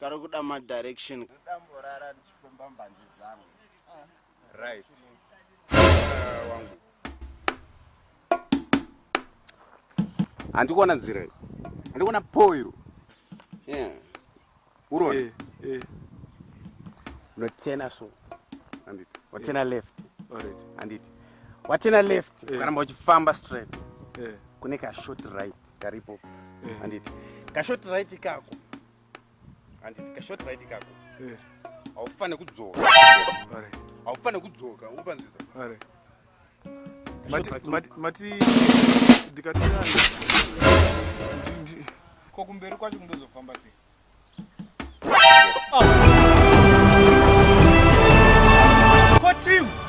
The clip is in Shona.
Kari kuda ma direction. Ndamborara ndichifamba mbanje zvangu. Right. Uh, wangu. Andikuona nzira iyi. Andikuona po iro. Yeah. Urone. Eh, eh. Unotena so. Anditi. Watena yeah. left. Alright. Anditi. Watena left. Eh. Ukaramba yeah. uchifamba straight. Eh. Yeah. Kune ka short right karipo. Eh. Yeah. Anditi. Ka short right kako. Andi kashot right kako. Eh. Aufane kudzoka. Vale. Aufane kudzoka upanzisa. Vale. Mati mati mati dikatira. Ko kumberi kwacho kundozofamba sei? Ah. Ko team.